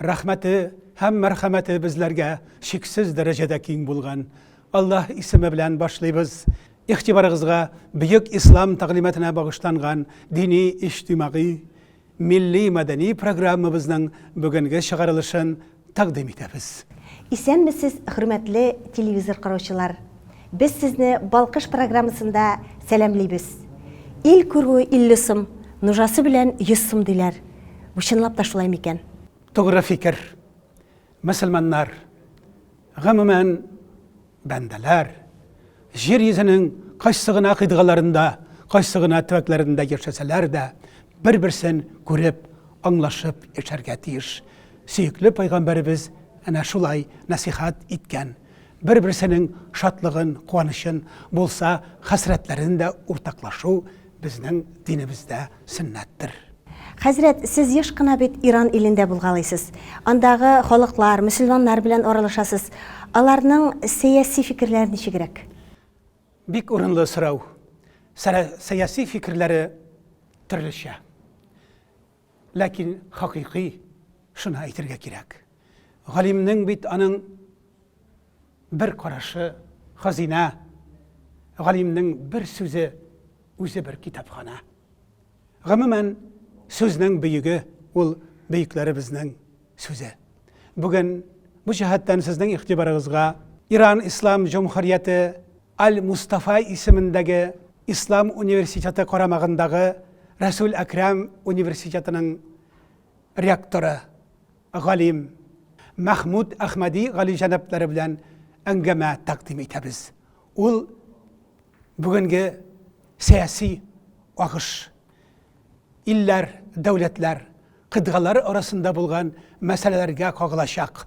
Рәхмәте һәм мәрхәмәте безләргә чиксез дәрәҗәдә киң булган Аллаһ исеме белән башлыйбыз. Игътибарыгызга бөек ислам тәгълиматына багышланган дини-иҗтимагый, милли-мәдәни программабызның бүгенге чыгарылышын тәкъдим итәбез. Исәнмесез, хөрмәтле телевизор караучылар! Без сезне Балкыш программасында сәламлибез. Ил күрүе 50 сум, нужасы белән 100 сум диләр. Бу чынлап та шулай микән? Тугры фикер. Мөселманнар, гомумән, бәндәләр, җир йөзенең кайсы гына кыйтгаларында, кайсы гына төбәкләрендә яшәсәләр дә, бер-берсен күреп, аңлашып яшәргә тиеш. Сөекле Пәйгамбәребез әнә шулай нәсыйхәт иткән. Бер-берсенең шатлыгын, куанычын, булса, хәсрәтләрен дә уртаклашу безнең динебездә сөннәттер. Хәзрәт, сез еш кына бит Иран илендә булгалыйсыз. Андагы халыклар, мөселманнар белән аралашасыз. Аларның сәяси фикерләре ничегрәк? Бик урынлы сорау. Сәяси фикерләре төрлечә. Ләкин хакыйкый, шуны әйтергә кирәк. Галимнең бит аның бер карашы, хазинә, галимнең бер сүзе, үзе бер китапханә. Гомумән, сүзнең бөеге ул бөекләребезнең сүзе. Бүген бу җәһәттән сезнең игътибарыгызга Иран Ислам Җомһурияте Аль-Мустафа исемендәге Ислам университеты карамагындагы Рәсүл Әкрам университетының ректоры, галим Мәхмүт Әхмәди галиҗәнаплары белән әңгәмә тәкъдим итәбез. Ул бүгенге сәяси агыш, илләр, дәүләтләр, кыйтгалар арасында булган мәсьәләләргә кагылачак.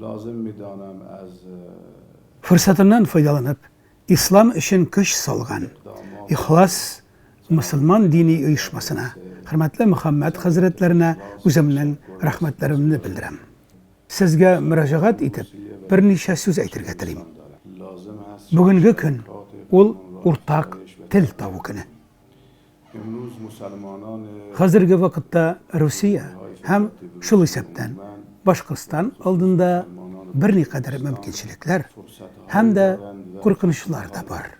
Лазым миданам аз. Форсатыннан файдаланып, ислам өчен көч салган Ихлас мөселман дини оешмасына, хөрмәтле Мөхәммәд хәзрәтләренә үземнең рәхмәтләремне белдерәм. Сезгә мөрәҗәгать итеп, берничә сүз әйтергә телим. Бүгенге көн ул уртак тел табу көне. Хәзерге вакытта Русия һәм, шул исәптән, Башкортстан алдында берникадәр мөмкинчелекләр һәм дә куркынычлар да бар.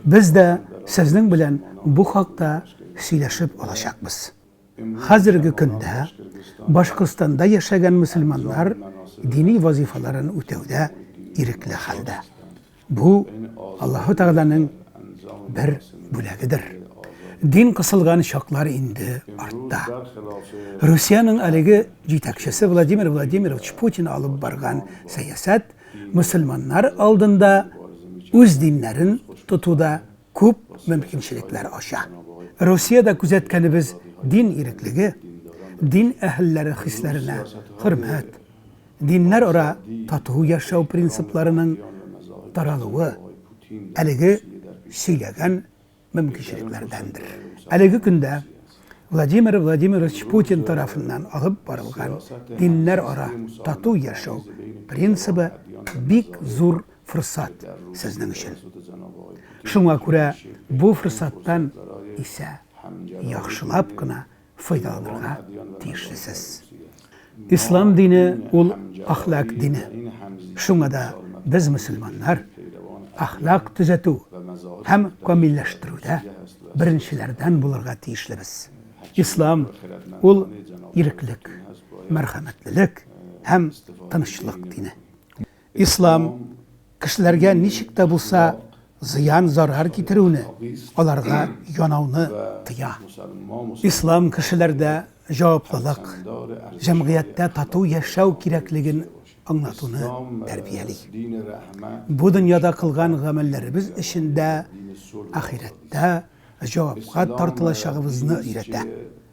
Без дә сезнең белән бу хакта сөйләшеп алачакбыз. Хәзерге көндә Башкортстанда яшәгән мөселманнар дини вазифаларын үтәүдә ирекле хәлдә. Бу Аллаһу Тәгаләнең бер бүләгедер. Дин кысылган чаклар инде артта. Русиянең әлеге җитәкчесе Владимир Владимирович Путин алып барган сәясәт мусульманнар алдында үз диннәрен тотуда күп мөмкинчелекләр ача. Русиядә күзәткәнебез дин иреклеге, дин әһелләре хисләренә хөрмәт, диннәр ара тату яшәү принципларының таралуы әлеге сөйләгән мөмкинчелекләрдәндер. Әлеге көндә Владимир Владимирович Путин тарафыннан алып барылган диннәр ара тату яшәү принцибы бик зур форсат сезнең өчен. Шуңа күрә бу форсаттан исә яхшылап кына файдаланырга тиешлесез. Ислам дине ул ахлак дине. Шуңа да без мөселманнар ахлак төзәтү һәм камилләштерүдә беренчеләрдән булырга тиешлебез. Ислам ул иреклек, мәрхәмәтлелек һәм тынычлык дине. Ислам кешеләргә ничек тә булса зыян-зарар китерүне, аларга янауны тыя. Ислам кешеләрдә җаваплылык, җәмгыятьтә тату яшәү кирәклеген аңлатуны тәрбияли. Бу дөньяда кылган гамәлләребез өчен дә ахирәттә җавапка тартылачагыбызны өйрәтә.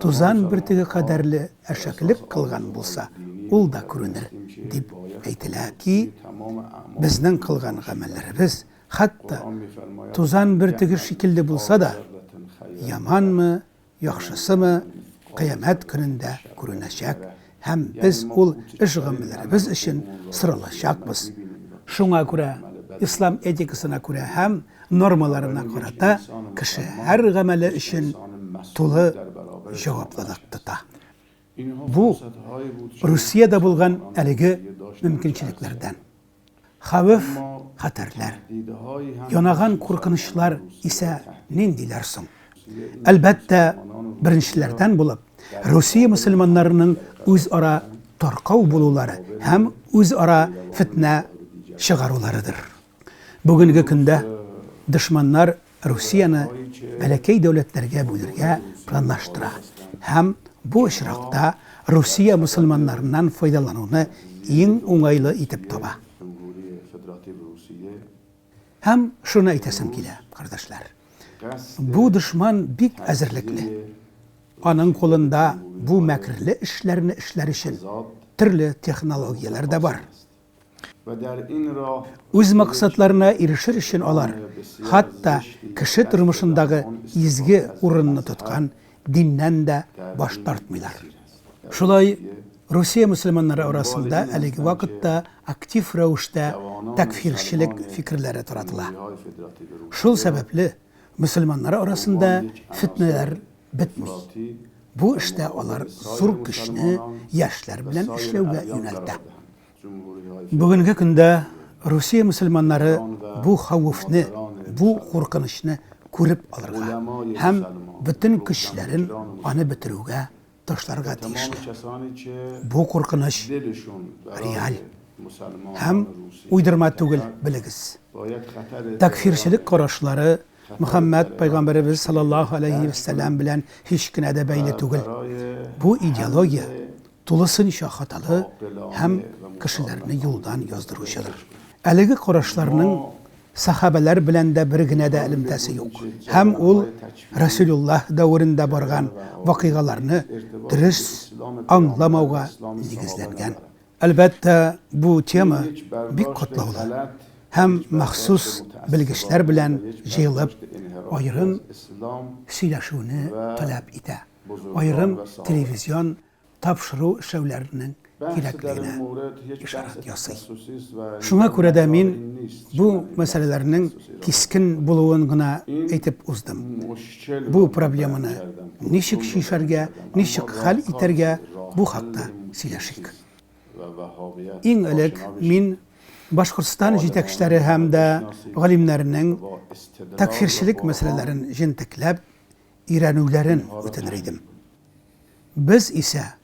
Тузан бөртеге кадәрле әшәкелек кылган булса, ул да күренер, дип әйтелә ки, безнең кылган гамәлләребез, хәтта тузан бөртеге шикелле булса да, яманмы, яхшысымы, кыямәт көнендә күренәчәк, һәм без ул эш гамәлләребез өчен соралачакбыз. Шуңа күрә ислам этикасына күрә һәм нормаларына карата кеше һәр гамәле өчен тулы җаваплылык тота. Бу, Русиядә булган әлеге мөмкинчелекләрдән. Хәвеф, хәтәрләр, янаган куркынычлар исә ниндиләр соң? Әлбәттә, беренчеләрдән булып, Русия мөселманнарының үзара таркау булулары һәм үзара фетнә чыгаруларыдыр. Бүгенге көндә дошманнар Русияне бәләкәй дәүләтләргә бүлергә планлаштыра һәм бу очракта Русия мөселманнарыннан файдалануны иң уңайлы итеп таба. Һәм шуны әйтәсем килә, кардәшләр, бу дошман бик әзерлекле. Аның кулында бу мәкерле эшләрне эшләр өчен төрле технологияләр дә бар. Үз максатларына ирешер өчен алар хатта кеше тормышындагы изге урынны тоткан диннән дә баш тартмыйлар. Шулай Русия мөселманнары арасында әлеге вакытта актив рәвештә тәкфирчелек фикерләре таратыла. Шул сәбәпле, мөселманнар арасында фетнәләр бетми. Бу эштә алар зур көчне яшьләр белән эшләүгә юнәлтә. Бүгенге көндә Русия мөселманнары бу хәвефне, бу куркынычны күреп алырга һәм бөтен көчләрен аны бетерүгә ташларга тиешле. Бу куркыныч реаль һәм уйдырма түгел, белегез. Тәкъфирчелек карашлары Мөхәммәд пәйгамбәребез саллаллаһу алейһи вә сәлләм белән һич кенә дә бәйле түгел. Бу идеология тулысынча хаталы һәм кешеләрне юлдан яздыручыдыр. Әлеге карашларның сәхабәләр белән дә бер генә дә элемтәсе юк. Һәм ул Расулуллаһ дәверендә барган вакыйгаларны дөрес аңламауга нигезләнгән. Әлбәттә, бу тема бик катлаулы һәм махсус белгечләр белән җыелып аерым сөйләшүне таләп итә, аерым телевизион тапшыру эшләүләренең кирәклегенә ишарат ясый. Шуңа күрә дә мин бу мәсьәләләрнең кискен булуын гына әйтеп уздым. Бу проблеманы ничек чишәргә, ничек хәл итәргә, бу хакта сөйләшик. Иң элек мин Башкортстан җитәкчеләре һәм дә галимнәренең тәкъфирчелек мәсьәләләрен җентекләп өйрәнүләрен үтенер идем. Без исә,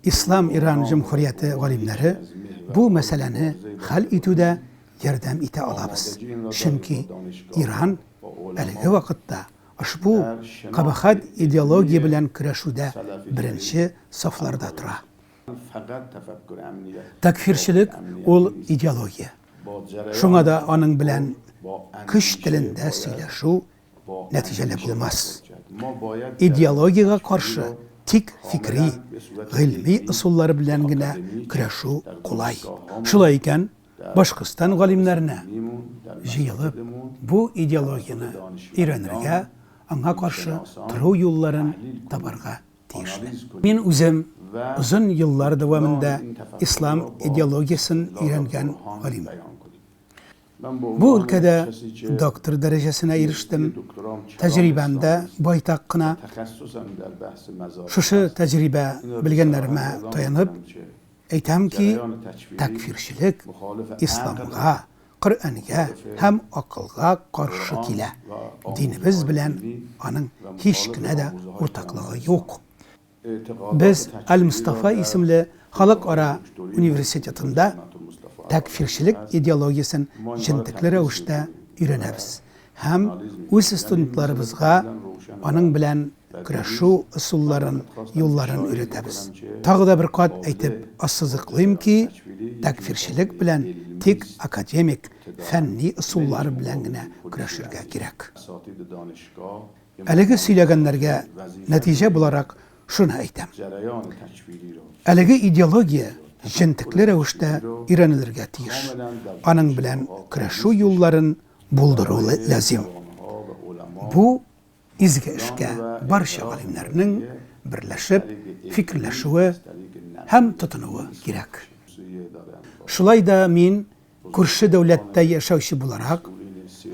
Ислам Иран Җөмһүрияте галимнәре, бу мәсьәләне хәл итүдә ярдәм итә алабыз, чөнки Иран әлеге вакытта ошбу кабахәт идеология белән көрәшүдә беренче сафларда тора. Тәкъфирчелек ул идеология. Шуңа да аның белән көч телендә сөйләшү нәтиҗәле булмас. Идеологиягә каршы тик фикри, гыйльми ысуллар белән генә көрәшү кулай. Шулай икән, Башкортстан галимнәренә җыелып, бу идеологияне өйрәнергә, аңа каршы тору юлларын табарга тиешләр. Мин үзем озын еллар дәвамында ислам идеологиясен өйрәнгән галим. Бу өлкәдә доктор дәрәҗәсенә ирештем. Тәҗрибәм дә байтак кына. Шушы тәҗрибә, белгәннәремә таянып, әйтәм ки, тәкъфирчелек исламга, Коръәнгә һәм акылга каршы килә, динебез белән аның һич кенә дә уртаклыгы юк. Без Аль-Мостафа исемле халыкара университетында тәкъфирчелек идеологиясен җентекле рәвештә өйрәнәбез һәм үз студентларыбызга аның белән көрәшү ысулларын, юлларын өйрәтәбез. Тагы да бер кат әйтеп ассызыклыйм ки, тәкъфирчелек белән тик академик, фәнни ысуллар белән генә көрәшергә кирәк. Әлеге сөйләгәннәргә нәтиҗә буларак шуны әйтәм. Әлеге идеология җентекле рәвештә өйрәнелергә тиеш. Аның белән көрәшү юлларын булдыру ләзим. Бу изге эшкә барча галимнәрнең берләшеп фикерләшүе һәм тотынуы кирәк. Шулай да мин Күрше дәүләттә яшәүче буларак,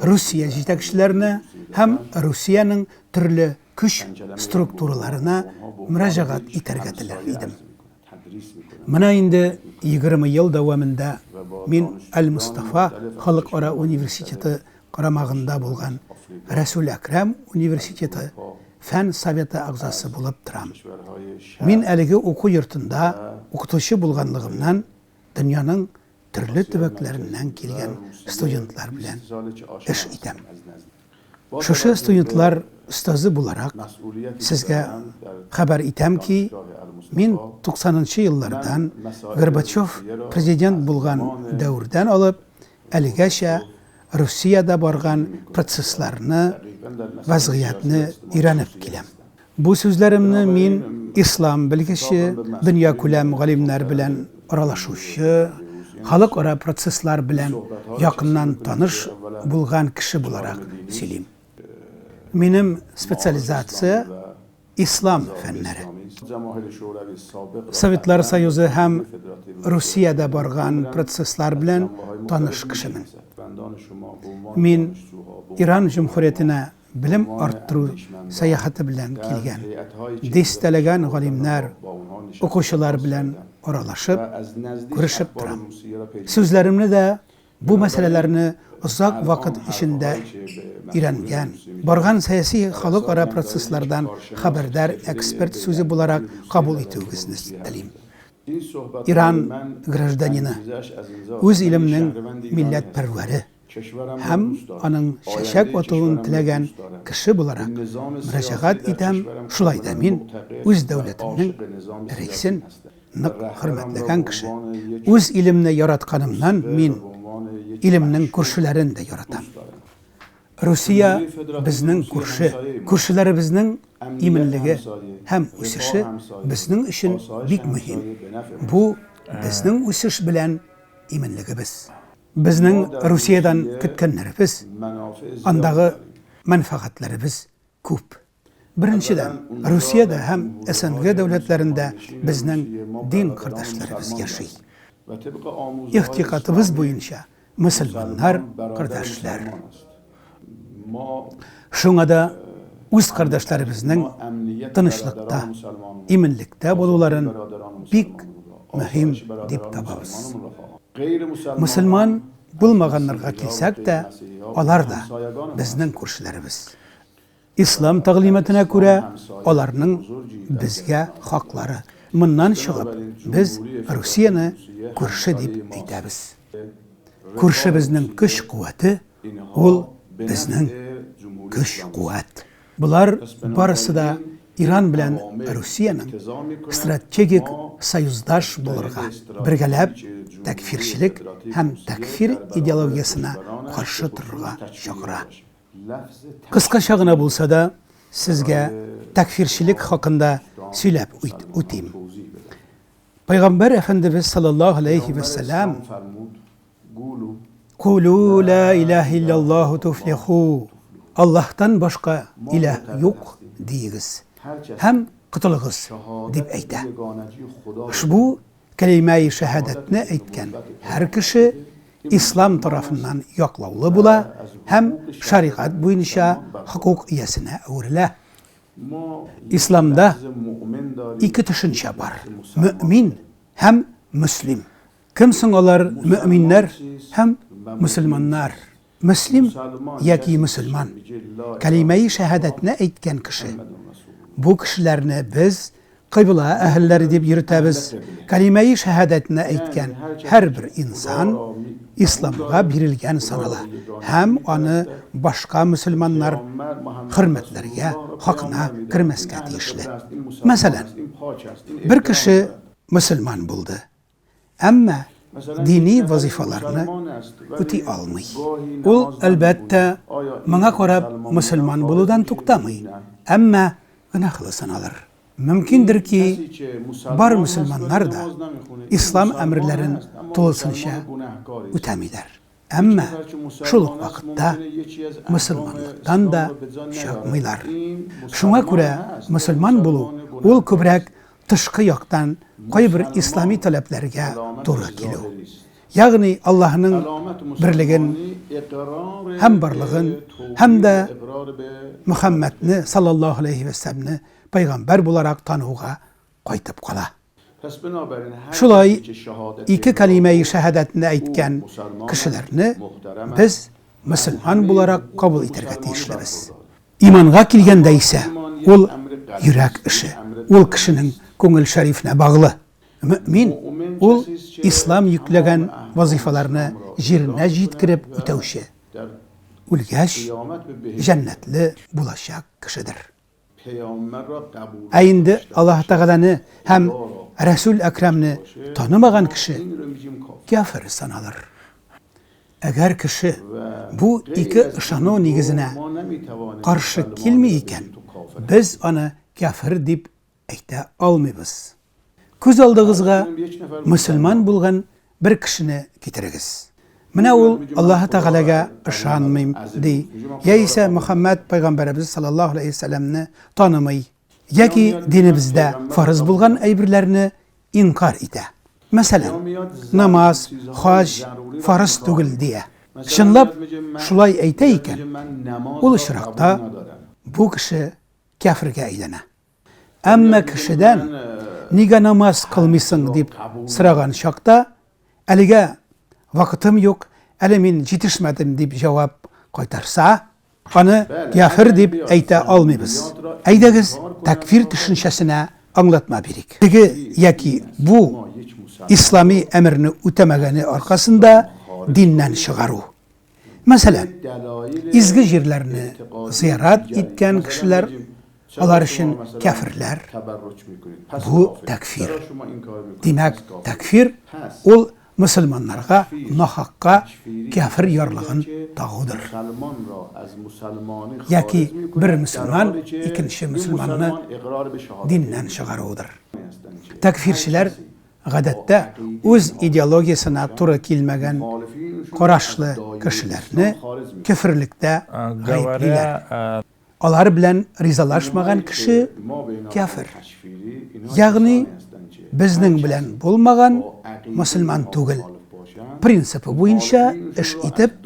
Русия җитәкчеләренә һәм Русиянең төрле көч структураларына мөрәҗәгать итәргә теләр идем. Менә инде егерме ел дәвамында мин Әл-Мостафа халыкара университеты карамагында булган Рәсүл Әкрәм университеты Фән советы әгъзасы булып торам. Мин әлеге уку йортында укытучы булганлыгымнан дөньяның төрле төбәкләреннән килгән студентлар белән эш итәм. Шушы студентлар остазы буларак, сезгә хәбәр итәм ки, мин 90 нчы еллардан, Горбачев президент булган дәвердән алып, әлегәчә Русиядә барган процессларны, вазгыятьне өйрәнеп киләм. Бу сүзләремне мин ислам белгече, дөньякүләм галимнәр белән аралашучы, халыкара процесслар белән якыннан таныш булган кеше буларак сөйлим. Минем специализация, ислам фәннәре. Советлар Союзы һәм Русиядә барган процесслар белән таныш кешемен. Мин Иран Җөмһүриятенә Белем арттыру сәяхәте белән килгән дистәләгән галимнәр, укучылар белән аралашып, күрешеп торам. Сүзләремне дә бу мәсьәләләрне озак вакыт эчендә өйрәнгән, барган сәяси халыкара процесслардан хәбәрдар эксперт сүзе буларак кабул итүегезне телим. Иран гражданины, үз илемнең милләтпәрвәре. Һәм аның чәчәк атуын теләгән кеше буларак, мөрәҗәгать итәм, шулай да мин үз дәүләтемнең рәисен нык хөрмәтләгән кеше. Үз илемне яратканымнан мин илемнең күршеләрен дә яратам. Русия безнең күрше. Күршеләребезнең иминлеге һәм үсеше безнең өчен бик мөһим. Бу, безнең үсеш белән иминлегебез. Безнең Русиядән көткәннәребез, андагы мәнфәгатьләребез күп. Беренчедән, Русиядә һәм СНГ дәүләтләрендә безнең дин кардәшләребез яши. Игътикатыбыз буенча мөселманнар кардәшләр. Шуңа да үз кардәшләребезнең тынычлыкта, иминлектә булуларын бик мөһим дип табабыз. Мөселман булмаганнарга килсәк тә, алар да безнең күршеләребез. Ислам тәгълиматына күрә, аларның безгә хаклары. Моннан чыгып, без Русияне күрше дип әйтәбез. Күршебезнең көч-куәте, ул безнең көч-куәт. Болар барысы да Иран белән Русиянең стратегик союздаш булырга, бергәләп тәкъфирчелек һәм тәкъфир идеологиясенә каршы торырга чакыра. Кыскача гына булса да, сезгә тәкъфирчелек хакында сөйләп үтим. Пәйгамбәр әфәндебез саллаллаһу алейхи вә сәлам Кулу ла илаһа илляллаһу туфлиху Аллаһтан башка илаһ юк диегез һәм котылыгыз дип әйтә. Ошбу Кәлимәи шәһадәтне әйткән һәр кеше ислам тарафыннан яклаулы була һәм шәригать буенча хокук иясенә әверелә. Исламда ике төшенчә бар, мөэмин һәм мөслим. Кем соң алар мөэминнәр һәм мөселманнар? Мөслим яки мөселман, кәлимәи шәһадәтне әйткән кеше. Бу кешеләрне без кыйбла әһелләре дип йөртәбез. Кәлимәи шәһадәтне әйткән һәрбер инсан исламга бирелгән санала һәм аны башка мөселманнар хөрмәтләргә, хакына кермәскә тиешле. Мәсәлән, бер кеше мөселман булды. әмма дини вазыйфаларны үти алмый. Ул, әлбәттә, моңа карап мөселман булудан туктамый, әмма гөнаһлы саналыр. Мөмкиндер ки, бар мөселманнар да ислам әмерләрен тулысынча үтәмиләр. Әмма шул ук вакытта мөселманлыктан да чыкмыйлар. Шуңа күрә мөселман булу, ул күбрәк тышкы яктан кайбер ислами таләпләргә туры килү. Ягъни Аллаһының берлеген һәм барлыгын һәм дә Мөхәммәдне саллаллаһу галәйһи вә сәлләмне пәйгамбәр буларак тануга кайтып кала. Шулай ике кәлимәи шәһадәтне әйткән кешеләрне без мөселман буларак кабул итәргә тиешлебез. Иманга килгәндә исә, ул йөрәк эше, ул кешенең күңел шәрифенә баглы. Мөэмин, ул Ислам йөкләгән вазыйфаларны җиренә җиткереп үтәүче, үлгәч, җәннәтле булачак кешедер. Ә инде Аллаһ Тәгаләне һәм Рәсүл Әкрамне танымаган кеше кяфер саналыр. Әгәр кеше бу ике ышану нигезенә каршы килми икән, без аны кяфер дип әйтә алмыйбыз. Күз алдыгызга мөселман булган бер кешене китерегез. Менә ул Аллаһы Тәгаләгә ышанмыйм ди, яисә Мөхәммәд пәйгамбәребез саллаллаһу алейһи ва сәлләмне танымый, яки динебездә фарыз булган әйберләрне инкарь итә. Мәсәлән, намаз, хаҗ фарыз түгел дия. Чынлап шулай әйтә икән, ул очракта бу кеше кяфергә әйләнә. Әмма кешедән нигә намаз кылмыйсың дип сораган чакта, әлегә вакытым юк, әле мин җитешмәдем дип җавап кайтарса, аны кяфер дип әйтә алмыйбыз. Әйдәгез, тәкфир төшенчәсенә аңлатма бирик. Теге яки бу ислами әмерне үтәмәгәне аркасында диннән чыгару. Мәсәлән, изге җирләрне зыярат иткән кешеләр, алар өчен кәферләр, бу тәкфир. Димәк, тәкфир ул мөселманнарга нахакка кәфер ярлыгын тагудыр. Яки бер мөселман икенче мөселманны диннән чыгаруыдыр. Тәкфирчеләр гадәттә, үз идеологиясенә туры килмәгән карашлы кешеләрне көферлектә гаеплиләр. Алар белән ризалашмаган кеше, кяфер. Ягъни, безнең белән булмаган, мөселман түгел, принципы буенча эш итеп,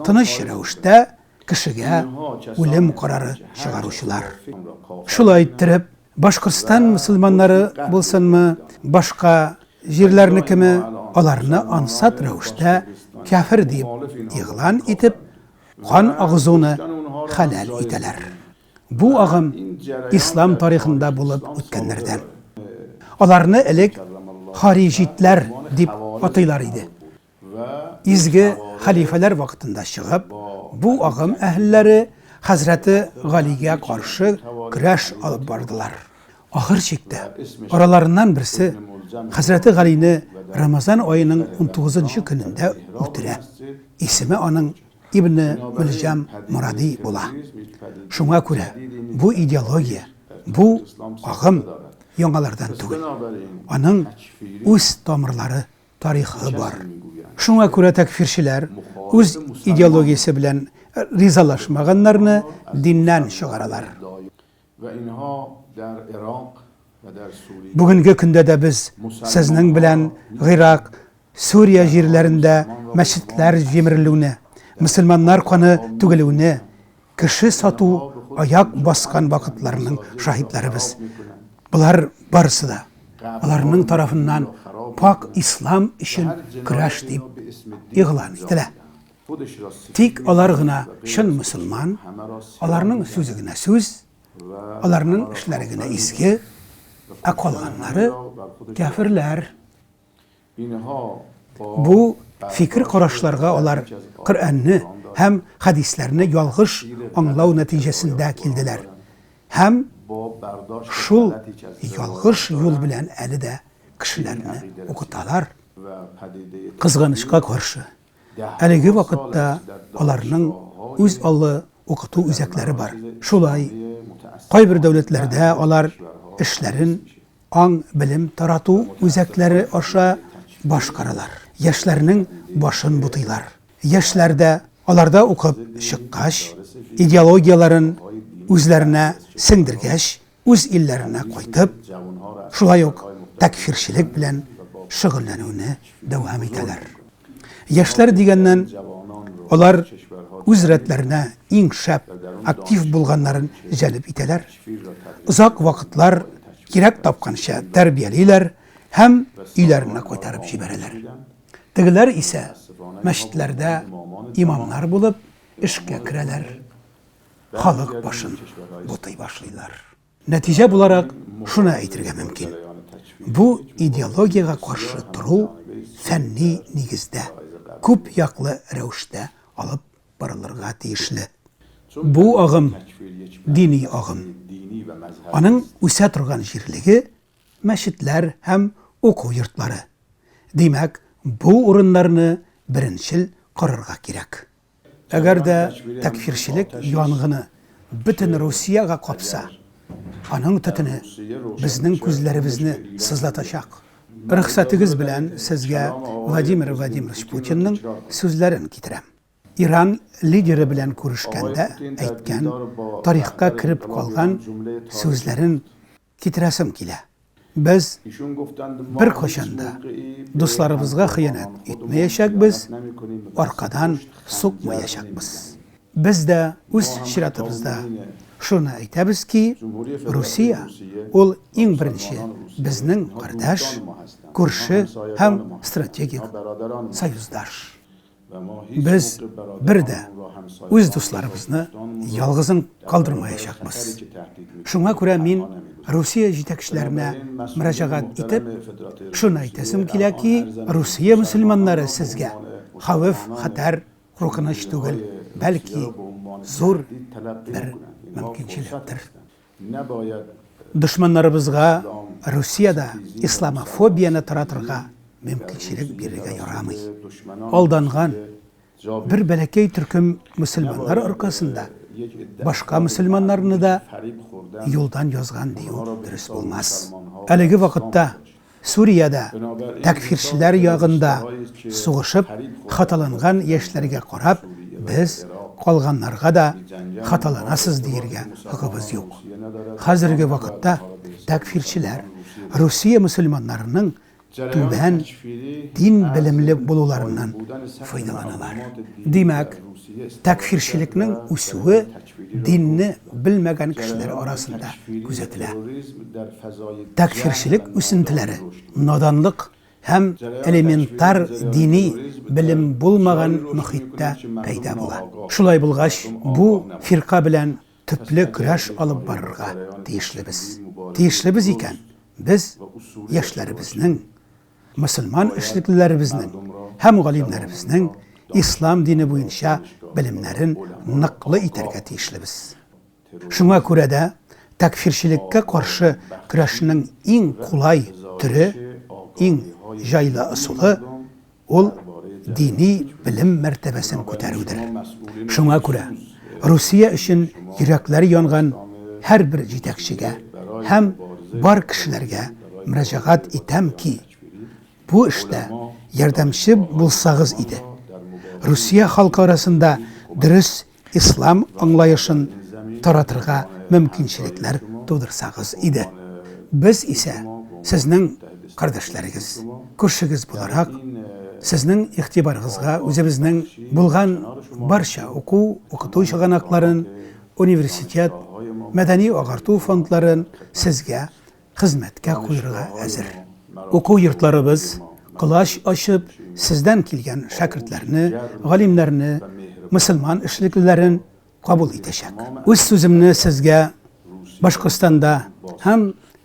тыныч рәвештә кешегә үлем карары чыгаручылар. Шулай иттереп, Башкортстан мөселманнары булсынмы, башка җирләрнекеме, аларны ансат рәвештә кәфер дип игълан итеп, кан агызуны хәләл итәләр. Бу агым ислам тарихында булып үткәннәрдән. Аларны элек хариҗитләр дип атыйлар иде. Изге хәлифәләр вакытында чыгып, бу агым әһелләре хәзрәте Галигә каршы көрәш алып бардылар. Ахыр чиктә араларыннан берсе хәзрәте Галине Рамазан аеның 19 көнендә үтерә. Исеме аның Ибне Мөлҗам Моради була. Шуңа күрә бу идеология, бу агым яңалардан түгел. Аның үз тамырлары тарихы бар. Шуңа күрә тәкъфирчеләр үз идеологиясе белән ризалашмаганнарны диннән чыгаралар. Бүгенге көндә дә без сезнең белән Гыйрак, Сүрия җирләрендә мәчетләр җимерелүне, мөселманнар каны түгелүне, Кеше сату аяк баскан вакытларның шаһитларыбыз. Болар барысы да аларның тарафыннан пакь ислам өчен көрәш дип игълан ителә. Тик алар гына чын мөселман, аларның сүзе генә сүз, аларның эшләре генә изге, ә калганнары, кяферләр. Бу фикер-карашларга алар Коръәнне һәм хәдисләрне ялгыш аңлау нәтиҗәсендә килделәр һәм шул ялгыш юл белән әле дә кешеләрне укыталар. Кызганычка каршы, әлеге вакытта аларның үз аллы укыту үзәкләре бар. Шулай, кайбер дәүләтләрдә алар эшләрен Аң-белем тарату үзәкләре аша башкаралар. Яшьләрнең башын бутыйлар. Яшьләр дә, аларда укып чыккач, идеологияләрен үзләренә сеңдергәч, үз илләренә кайтып, шулай ук тәкъфирчелек белән шөгыльләнүне дәвам итәләр. Яшьләр дигәннән, алар үз рәтләренә иң шәп, актив булганнарын җәлеп итәләр. Озак вакытлар кирәк тапканча тәрбиялиләр һәм өйләренә кайтарып җибәрәләр. Тегеләр исә мәчетләрдә имамнар булып эшкә керәләр, халык башын бутый башлыйлар. Нәтиҗә буларак шуны әйтергә мөмкин, бу идеологиягә каршы тору фәнни нигездә, күп яклы рәвештә алып барылырга тиешле. Бу агым, дини агым. Аның үсә торган җирлеге, мәчетләр һәм уку йортлары. Димәк, бу урыннарны беренчел карарга кирәк. Әгәр дә тәкфирчелек янгыны бөтен Русиягә капса, аның төтене безнең күзләребезне сызлатачак. Рөхсәтегез белән сезгә Владимир Владимирович Путинның сүзләрен китерәм. Иран лидеры белән күрешкәндә әйткән, тарихка кереп калган сүзләрен. Китерәсем килә, без беркайчан да дусларыбызга хыянәт итмәячәкбез, аркадан сукмаячакбыз. Без дә үз чиратыбызда шуны әйтәбез ки, Русия, ул иң беренче безнең кардәш, күрше һәм стратегик союздаш. Без бер дә үз дусларыбызны ялгызын калдырмаячакбыз. Шуңа күрә мин Русия җитәкчеләренә мөрәҗәгать итеп, шуны әйтәсем килә ки, Русия мөселманнары сезгә хәвеф, хәтәр, куркыныч түгел, бәлки зур бер мөмкинчелектер. Дошманнарыбызга Русиядә исламофобияне таратырга мөмкинчелек бирергә ярамый. Алданган бер бәләкәй төркем мөселманнар аркасында башка мөселманнарны да юлдан язган дию дөрес булмас. Әлеге вакытта Сүриядә тәкъфирчеләр ягында сугышып хаталанган яшьләргә карап, без, калганнарга да хаталанасыз диергә хокыбыз юк. Хәзерге вакытта тәкъфирчеләр Русия мөселманнарының түбән дин белемле булуларыннан файдаланалар. Димәк, тәкъфирчелекнең үсүе динне белмәгән кешеләр арасында күзәтелә. Тәкъфирчелек үсентеләре наданлык һәм элементар дини белем булмаган мөхиттә пәйда була. Шулай булгач, бу фирка белән төпле көрәш алып барырга тиешлебез. Тиешлебез икән, без яшьләребезнең мөселман эшлеклеләребезнең һәм галимнәребезнең ислам дине буенча белемнәрен ныклы итәргә тиешлебез. Шуңа күрә дә тәкъфирчелеккә каршы көрәшнең иң кулай төре, иң җайлы ысулы, ул дини белем мәртәбәсен күтәрүдер. Шуңа күрә Русия өчен йөрәкләре янган һәрбер җитәкчегә һәм бар кешеләргә мөрәҗәгать итәм ки, бу эштә ярдәмче булсагыз иде. Русия халкы арасында дөрес ислам аңлаешын таратырга мөмкинчелекләр тудырсагыз иде. Без исә сезнең кардәшләрегез, күршегез буларак, сезнең игътибарыгызга үзебезнең булган барча уку, укыту чыганакларын, университет, мәдәни-агарту фондларын сезгә хезмәткә куерга әзер. Уку йортларыбыз, колач ачып, сездән килгән шәкертләрне, галимнәрне, мөселман эшлеклеләрен кабул итәчәк. Үз сүземне сезгә Башкортстанда һәм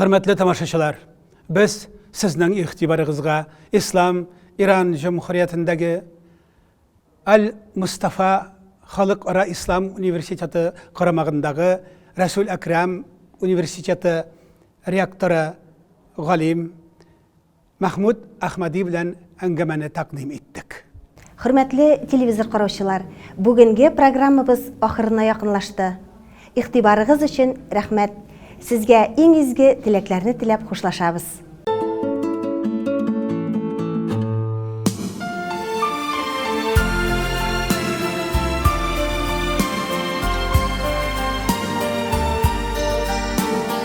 Хөрмәтле тамашачылар, без сезнең игътибарыгызга Ислам Иран җөмһүриятендәге Аль-Мустафа халыкара ислам университеты карамагындагы Рәсүл Әкрам университеты ректоры галим Мәхмүт Әхмәди белән әңгәмәне тәкъдим иттек. Хөрмәтле телевизор караучылар, бүгенге программабыз ахырына якынлашты. Игътибарыгыз өчен рәхмәт. Сезгә иң изге теләкләрне теләп хушлашабыз.